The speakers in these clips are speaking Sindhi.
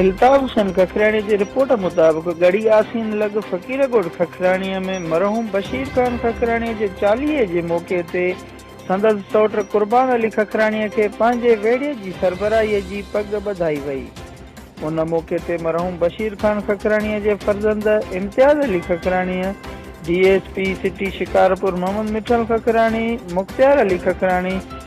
الطاف حسين ککراڻي جي رپورٽ مطابق ڳڙهي آسين لڳ فقير ڳوٺ ککراڻي ۾ مرحوم بشير خان ککراڻي جي چاليهي جي موقعي تي سندس سئوٽ قربان علي ککراڻي کي پنهنجي ويڙهي جي سربراهي جي پڳ ٻڌائي وئي ان موقعي تي مرحوم بشير خان ککراڻي جي فرزند Imtiaz Ali Khakhrani, D S P city Shikarpur Muhammad Mithal Khakhrani, Mukhtiar Ali Khakhrani,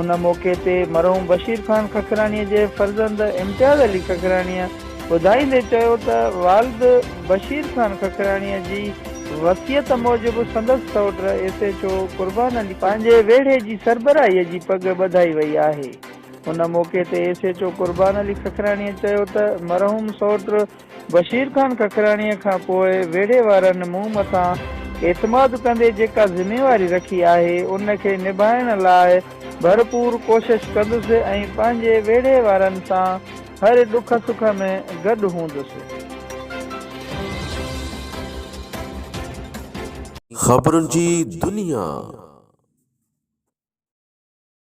ان موقعي تي مرحوم بشير خان ککراڻيء جي فرزند امتياز علي ککراڻيء ٻڌائيندي چيو ته والد بشير خان ککراڻيء جي وصيت موجب سندس سئوٽ S H O Qurban Ali پنهنجي ويڙهي جي سربراهي جي پڳ ٻڌائي وئي آهي. ان موقعي تي S H O Qurban Ali ککراڻيء چيو ته مرحوم سئوٽ بشير خان ڪڪراڻيء کان پوء ويڙهي وارن مون مٿان اعتماد ڪندي جيڪا ذميواري رکي آهي، ان کي نڀائڻ لاء ڀرپور ڪوشش ڪندس ۽ پنهنجي ويڙهي وارن سان هر ڏک سک ۾ گڏ هوندس. خبرن جي دنيا.